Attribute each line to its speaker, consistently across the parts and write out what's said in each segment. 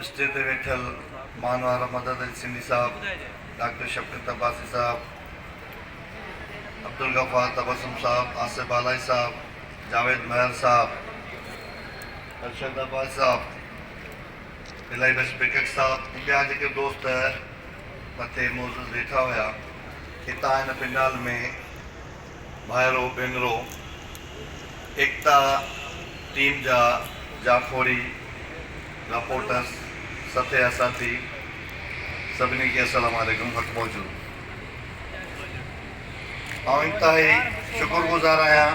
Speaker 1: Stage تي ويٺل مان وارا مدد علي سنڌي صاحب، ڊاڪٽر شفقت عباسي صاحب، عبدالغفار تبسم صاحب، آصف بالائي صاحب، جاويد مهر صاحب، ارشد عباسي صاحب، الائي بس بيڪڪ صاحب ۽ ٻيا جيڪي دوست مٿي معزز ويٺا هيا هتان هن پنڊال ۾ ڀائرو ڀينرو، ايڪتا ٽيم جا جاکوڙي، رپورٽرز، سٿي يا ساٿي سڀني کي السلام عليڪم حق موجود آئون انتهائي شڪر گذار آهيان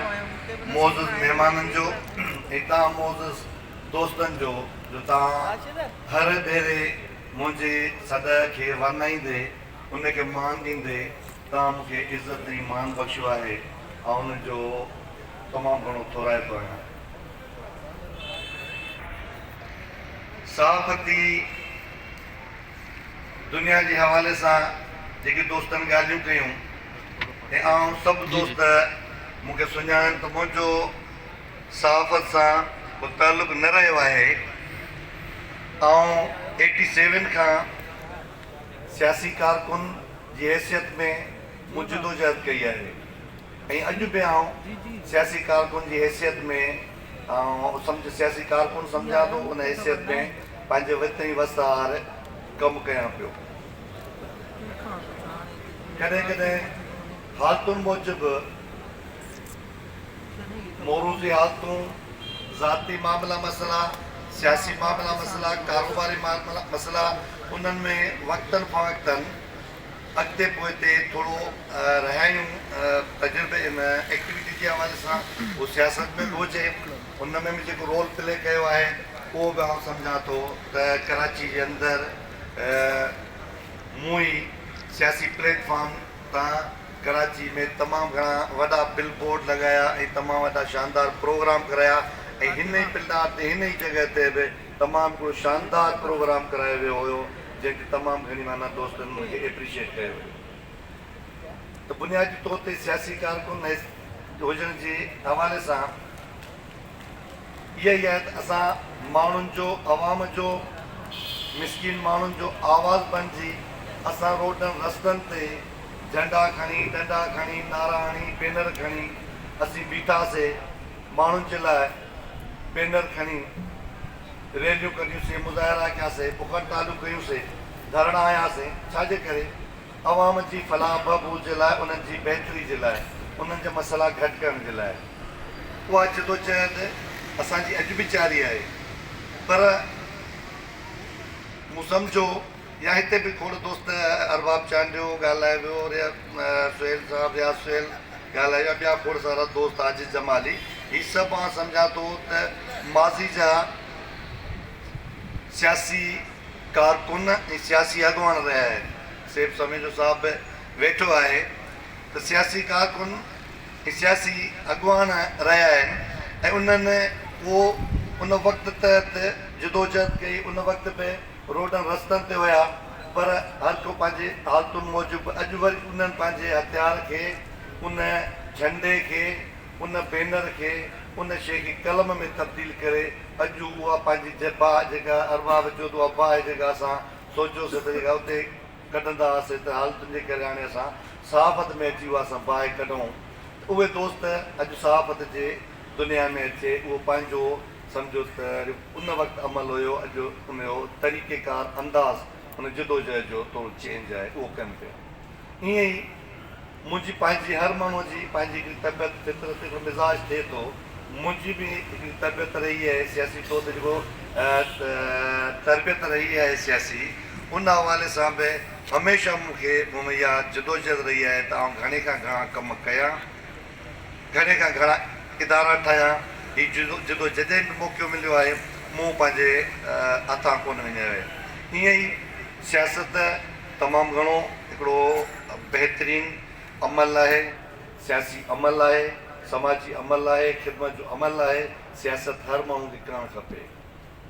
Speaker 1: معزز مهمانن جو ۽ توهان معزز دوستن جو جو توهان هر ڀيري منهنجي سڏ کي ورنائيندي ان کي مان ڏيندي توهان مون کي عزت ۽ مان بخشيو آهي، آئون ان جو تمام گهڻو ٿورائتو آهيان. صحافتي دنيا جي حوالي سان جيڪي دوستن ڳالهيون ڪيون ۽ آئون سڀ دوست مون کي سڃاڻن ته منهنجو صحافت سان ڪو تعلق نه رهيو آهي، آئون ايٽي سيون کان سياسي ڪارڪن جي حيثيت ۾ مون جدوجهد ڪئي آهي ۽ اڄ به آئون سياسي ڪارڪن جي حيثيت ۾ آئون سياسي ڪارڪن سمجهان ٿو ان حيثيت ۾ پنهنجي وت ۽ وسهار ڪم ڪيان پيو. ڪڏهن ڪڏهن حالتن موجب. موروثي حالتون، ذاتي معاملا مسئلا، سياسي معاملا مسئلا، ڪاروباري معاملا مسئلا انهن ۾ وقتن فوقتن اڳتي پوئتي ٿورو رهيائيون تجربي ان ايڪٽيوٽي جي حوالي سان اهو سياست ۾ به هجي ان ۾ به جيڪو رول پلي ڪيو آهي اهو به آئون سمجهان ٿو ته ڪراچي جي اندر مون هي سياسي پليٽ فارم تان ڪراچي ۾ تمام گهڻا وڏا بل بورڊ لڳايا ۽ تمام وڏا شاندار پروگرام ڪرايا ۽ هن ئي پلڊار تي هن ئي جڳهه تي به تمام هڪڙو شاندار پروگرام ڪرايو ويو هيو جنهن کي تمام گهڻي معنيٰ دوستن مون کي ايپريشيٽ ڪيو هيو ته بنيادي طور تي سياسي ڪارڪن هجڻ جي حوالي سان اهي ئي آهن ته اسان ماڻهن جو، عوام جو، مسڪين ماڻهن جو آواز بنجي اسان روڊن رستن تي جهنڊا کڻي، ڏنڊا کڻي، نعرا هڻي، بينر کڻي اسين بيٺا سي، ماڻهن جي لاء بينر کڻي ريليون ڪڍيون سي، مظاهرا ڪيا سي، بکهڙتالون ڪيون سي، ڌرڻا هنيا سي، ڇا جي ڪري عوام جي فلاح بهبود جي لاء، انهن جي بهتري جي لاء، انهن جا مسئلا گهٽ ڪرڻ جي لاء. اها جدوجهد اسان جي اڄ به جاري آهي پر مون سمجهيو يا هتي به کوڙ دوست ارباب چانڊيو ڳالهائي ويو سهيل صاحب رياض سهيل ڳالهائي ويا ٻيا کوڙ سارا دوست عاجز جمالي هي سڀ آئون سمجهان ٿو ته ماضي جا سياسي ڪارڪن ۽ سياسي اڳواڻ رهيا آهن سيف سميجو صاحب به ويٺو آهي ته سياسي ڪارڪن سياسي اڳواڻ رهيا آهن ۽ انهن اهو ان وقت تحت جدوجهد ڪئي ان وقت به روڊن رستن تي هيا پر هر ڪو پنهنجي حالتن موجب اڄ وري انهن پنهنجي هٿيار کي ان جهنڊي کي ان بينر کي ان شيء کي قلم ۾ تبديل ڪري اڄ اها پنهنجي جباهه جيڪا ارباب چيو ته اها باهه جيڪا اسان سوچيوسين ته جيڪا اتي ڪڍندا هئاسين ته حالتن جي ڪري هاڻي اسان صحافت ۾ اچي اها سڀ باهه ڪڍون ته اهي دوست اڄ صحافت جي دنيا ۾ اچي اهو پنهنجو سمجهو ته ان وقت عمل هيو اڄ ان جو طريقيڪار انداز ان جدوجهد جو ٿورو چينج آهي اهو ڪن پيا ائين ئي منهنجي پنهنجي هر ماڻهوء جي پنهنجي هڪڙي طبيعت، فطرت، هڪڙو مزاج ٿئي ٿو. منهنجي به هڪڙي طبيعت رهي آهي سياسي طور تي جيڪو تربيت رهي آهي سياسي ان حوالي سان به هميشه مون کي مون ۾ اها جدوجهد رهي آهي ته آئون گهڻي کان گهڻا ڪم ڪيان، گهڻي کان گهڻا ادارا ٺاهيان. هي جدوجهد جڏهن به موقعو مليو آهي مون پنهنجي هٿان ڪونه وڃايو آهي. ائين ئي سياست تمام گهڻو هڪڙو بهترين عمل آهي، سياسي عمل آهي، سماجي عمل آهي، خدمت جو عمل آهي، سياست هر ماڻهو کي ڪرڻ کپي.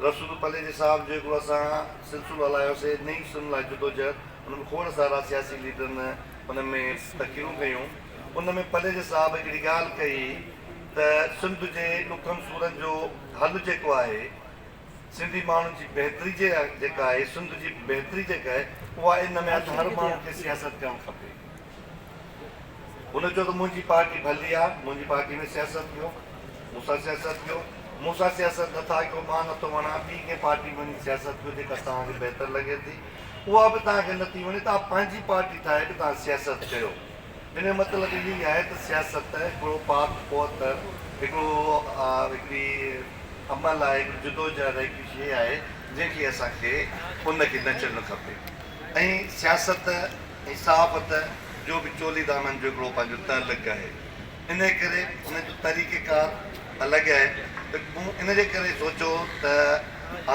Speaker 1: رسول پليجي صاحب جو هڪڙو اسان سلسلو هلايو سي نئين سنڌ لاء جدوجهد ان ۾ کوڙ سارا سياسي ليڊرن ان ۾ تقريرون ڪيون ان ۾ پليجي صاحب هڪڙي ڳالهه ڪئي ته سنڌ جي ڏکن سورن جو حل جيڪو آهي سنڌي ماڻهن جي بهتري جي جيڪا آهي سنڌ جي بهتري جيڪا آهي اها ان ۾ آهي ته هر ماڻهو کي سياست ڪرڻ کپي هن چيو ته منهنجي پارٽي ڀلي آهي منهنجي پارٽي ۾ سياست ڪيو مون سان سياست ڪيو مون سان سياست نٿا ڪيو مان نٿو وڻان ٻي ڪنهن پارٽي ۾ وڃي سياست ڪيو جيڪا توهان کي بهتر لڳي ٿي اها به توهان کي نٿي وڻي توهان پنهنجي پارٽي ٺاهي ته توهان سياست ڪيو ان جو مطلب اهو ئي آهي ته سياست هڪڙو پاڪ پوت، هڪڙو هڪڙي عمل آهي، هڪڙي جدوجهد آهي، هڪڙي شيء آهي، جنهن کي اسان کي ان کي نه ڇڏڻ کپي ۽ سياست ۽ صحافت جو به چولي دامن جو هڪڙو پنهنجو تعلق آهي، انهيء ڪري ان جو طريقه ڪار الڳ آهي ته مون ان جي ڪري سوچيو ته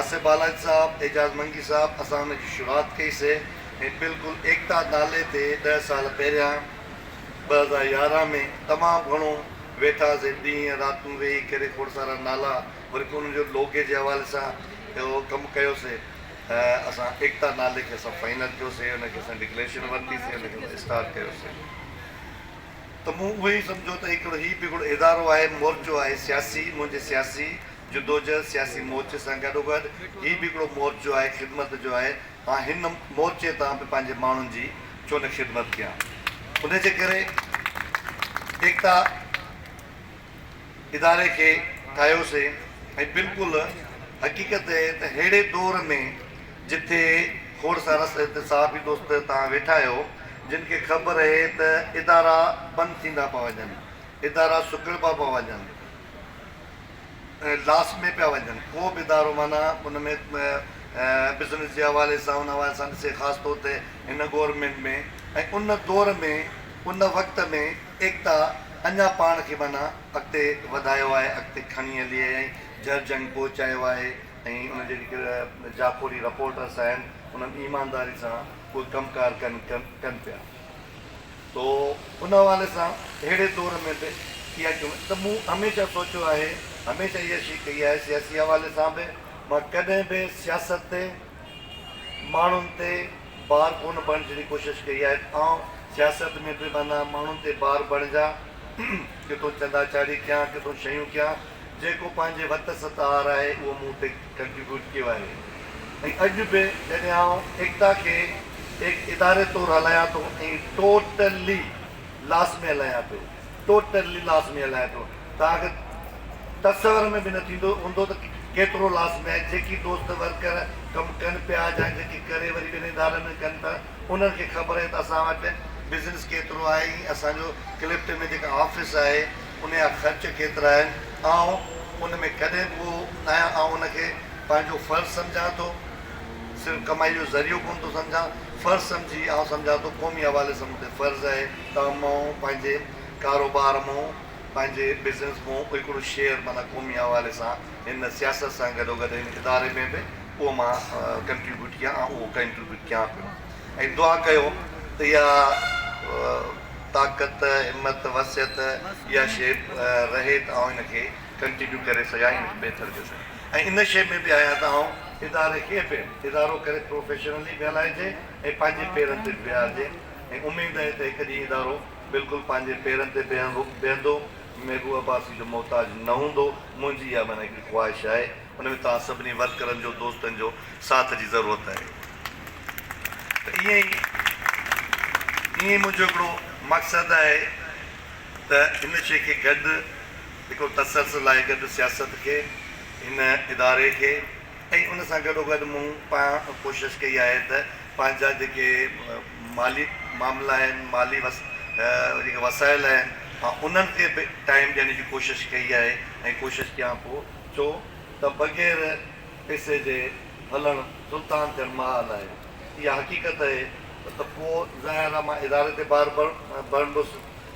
Speaker 1: آصف بالاچ صاحب، اعجاز منگي صاحب اسان ان جي شروعات ڪئي سي، هي بلڪل ايڪتا نالي تي ڏهه سال پهريان ٻه هزار يارهن ۾ تمام گهڻو ويٺاسين ڏينهن راتون ويهي ڪري کوڙ سارا نالا وري پوء انهن جو لوگي جي حوالي سان اهو ڪم ڪيوسي اسان ايڪتا نالي کي اسان فائنل ڪيوسي ان کي اسان ڊڪليشن ورتي سي ان کي اسان اسٽارٽ ڪيوسي ته مون اهو ئي سمجهو ته هڪڙو هي به هڪڙو ادارو آهي مورچو آهي سياسي منهنجي سياسي جدوجهد سياسي مورچي سان گڏوگڏ هي به هڪڙو مورچو آهي خدمت جو آهي مان هن مورچي تان به پنهنجي ماڻهن جي ڇو نه خدمت ڪيان. ان جي ڪري ايڪتا اداري کي ٺاهيوسين ۽ بلڪل حقيقت هي ته ههڙي دور ۾ جٿي کوڙ سارا صحافي دوست تان ويٺا آهيو جن کي خبر هي ته ادارا بند ٿيندا پيا وڃن، ادارا سڪڙبا پيا وڃن، لاس ۾ پيا وڃن ڪو به ادارو معنيٰ ان ۾ بزنس جي حوالي سان ان حوالي سان ڏسي خاص طور تي هن گورنمينٽ ۾ ۽ ان دور ۾ ان وقت ۾ ايڪتا اڃا پاڻ کي معنيٰ اڳتي وڌايو آهي اڳتي کڻي هلي آهي ۽ جر جنگ پهچايو آهي ۽ ان جي جيڪي جاکوڙي رپورٽرس آهن انهن ايمانداري سان اهي ڪم ڪار ڪن ڪن پيا. تو ان حوالي سان اهڙي دور ۾ به اها ڪيون ته مون هميشه سوچيو آهي، هميشه اها شي ڪئي آهي سياسي حوالي سان به مان ڪڏهن به سياست تي ماڻهن تي بار ڪونه بڻجڻ جي ڪوشش ڪئي آهي ته آئون سياست ۾ به معنيٰ ماڻهن تي بار بڻجان ڪٿو چندا چاڙهي ڪيان ڪٿو شيون ڪيان جيڪو پنهنجي وت ستهار آهي اهو مون تي ڪنٽريبيوٽ ڪيو آهي ۽ اڄ به جڏهن آئون ايڪتا کي هڪ اداري طور هلايان ٿو ۽ ٽوٽلي لاس ۾ هلايان پيو ٽوٽلي لاس ۾ هلايان پيو توهان کي تصور ۾ به نه ٿيندو هوندو ته ڪيترو لاس ۾ آهي جيڪي دوست ورڪر ڪم ڪن پيا جا جيڪي ڪري وري ٻين ادارن ۾ ڪن ٿا انهن کي خبر آهي ته اسان وٽ بزنس ڪيترو آهي ۽ اسان جو ڪلفٽن ۾ جيڪا آفيس آهي ان جا خرچ ڪيترا آهن؟ آئون ان ۾ ڪڏهن به اهو ناهيان، آئون ان کي پنهنجو فرض سمجهان ٿو، صرف ڪمائي جو ذريعو ڪونه ٿو سمجهان، فرض سمجهي آئون سمجهان ٿو، قومي حوالي سان مون تي فرض آهي ته مون پنهنجي ڪاروبار مون پنهنجي بزنس مون هڪڙو شيئر معنيٰ قومي حوالي سان هن سياست سان گڏوگڏ هن اداري ۾ به اهو مان ڪنٽريبيوٽ ڪيان ۽ اهو ڪنٽريبيوٽ ڪيان پيو. ۽ دعا ڪيو ته يا طاقت همت وسعت اها شيء رهي ته آئون ان کي ڪنٽينيو ڪري سگهان ۽ ان کي بهتر ڪري سگهان ۽ ان شيء ۾ به آهيان ته آئون اداري کي به ادارو ڪري پروفيشنلي به هلائجي ۽ پنهنجي پيرن تي به بيهارجي ۽ اميد آهي ته هڪ ڏينهن ادارو بلڪل پنهنجي پيرن تي بيهندو محبوب عباسي جو محتاج نه هوندو منهنجي اها معنيٰ هڪڙي خواهش آهي. ان ۾ توهان سڀني ورڪرن جو دوستن جو ساٿ جي ضرورت آهي ته ائين ئي ائين ئي منهنجو هڪڙو مقصد آهي ته هن شي کي گڏ هڪڙو تسلسل آهي گڏ سياست کي هن اداري کي ۽ ان سان گڏو گڏ مون پان ڪوشش ڪئي آهي ته پنهنجا جيڪي مالي معاملا آهن مالي وس جيڪي وسائل آهن مان انهن کي به ٽائيم ڏيڻ جي ڪوشش ڪئي آهي ۽ ڪوشش ڪيان پيو ڇو ته بغير پيسي جي هلڻ سلطان ٿيڻ محال آهي. اها حقيقت اهي ته پوء ظاهر آ مان اداري تي بار ڀرندس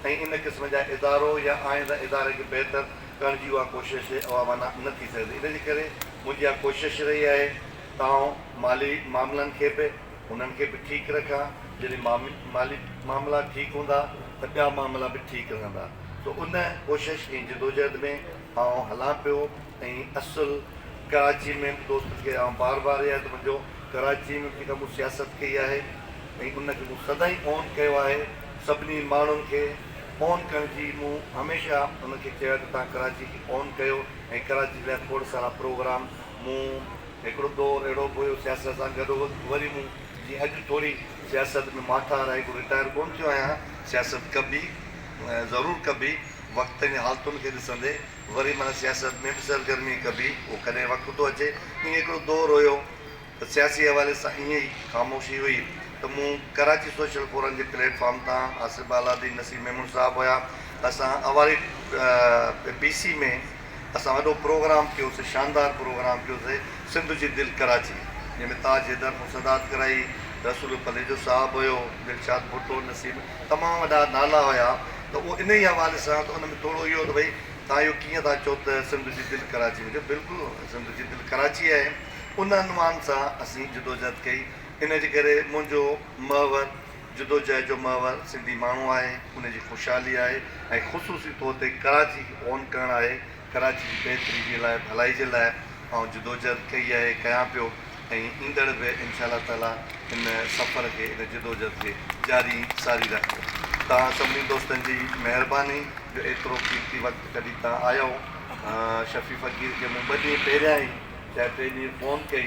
Speaker 1: ۽ ان قسم جا ادارو يا آئنده اداري کي بهتر ڪرڻ جي اها ڪوشش اها معنيٰ نه ٿي سگهندي. ان جي ڪري منهنجي اها ڪوشش رهي آهي ته آئون مالي معاملن کي به انهن کي به ٺيڪ رکان. جڏهن مالي معاملا ٺيڪ هوندا ته ٻيا معاملا به ٺيڪ رهندا. سو ان ڪوشش ۽ جدوجهد ۾. آئون هلان پيو ۽ اصل ڪراچي ۾ به دوستن کي آئون بار بار اها ته منهنجو ڪراچي ۾ به جيڪا مون سياست ڪئي آهي ۽ ان کي مون سدائين اون ڪيو آهي سڀني ماڻهن کي اون ڪرڻ جي مون هميشه انهن کي چيو آهي ته توهان ڪراچي کي اون ڪيو ۽ ڪراچي جي لاء کوڙ سارا پروگرام مون هڪڙو دور اهڙو به هيو سياست سان گڏ هوس وري مون جيئن اڄ ٿوري سياست ۾ ماٺار آهي ڪو رٽائر ڪون ٿيو آهيان سياست ڪبي ضرور ڪبي. وقتين ۽ حالتن کي ڏسندي وري معنيٰ سياست ۾ به سرگرمي ڪبي، اهو ڪڏهن وقت ٿو اچي. ائين هڪڙو دور هيو ته سياسي حوالي سان ائين ئي خاموشي هئي ته مون ڪراچي سوشل فورم جي پليٽ فارم تان آصف بالادي، نسيم ميمڻ صاحب هيا، اسان اوهاري بي سي ۾ اسان وڏو پروگرام ڪيوسي، شاندار پروگرام ڪيوسي، سنڌ جي دل ڪراچي، جنهن ۾ تاج حيدر مون صدارت ڪرائي، رسول پليجو صاحب هيو، دلشاد ڀٽو، نسيم. تمام وڏا نالا هيا ته اهو انهي حوالي سان ته ان ۾ ٿورو اهو ته ڀئي توهان اهو ڪيئن ٿا چئو ته سنڌ جي دل ڪراچي هجي بلڪل سنڌ جي دل ڪراچي آهي ان عنوان سان اسين جدوجهد ڪئي ان جي ڪري منهنجو محور جدوجهد جو محور سنڌي ماڻهو آهي ان جي خوشحالي آهي ۽ خصوصي طور تي ڪراچي کي اون ڪرڻ آهي. ڪراچي جي بهتري جي لاء ڀلائي جي لاء آئون جدوجهد ڪئي آهي ڪيان پيو ۽ ايندڙ به انشاء الله تعالي ان سفر کي ان جدوجهد کي جاري ساري رکندم توهان سڀني دوستن جي مهرباني جو ايترو قيمتي وقت ڪڍي توهان آيو شفيع فقير کي مون ٻه ڏينهن پهريان ئي شايد ٽي ڏينهن فون ڪئي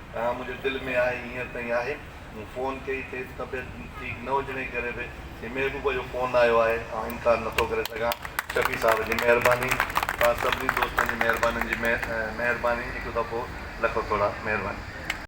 Speaker 1: ها منهنجي دل ۾ آهي هينئر تائين آهي مون فون ڪئي کيس طبيعت ٺيڪ نه هجڻ جي ڪري به هي محبوبه جو فون آيو آهي آئون انڪار نٿو ڪري سگهان شفيع صاحب جي مهرباني توهان سڀني دوستن جي مهربانين جي مهرباني هڪ دفعو لکو ٿورا مهرباني.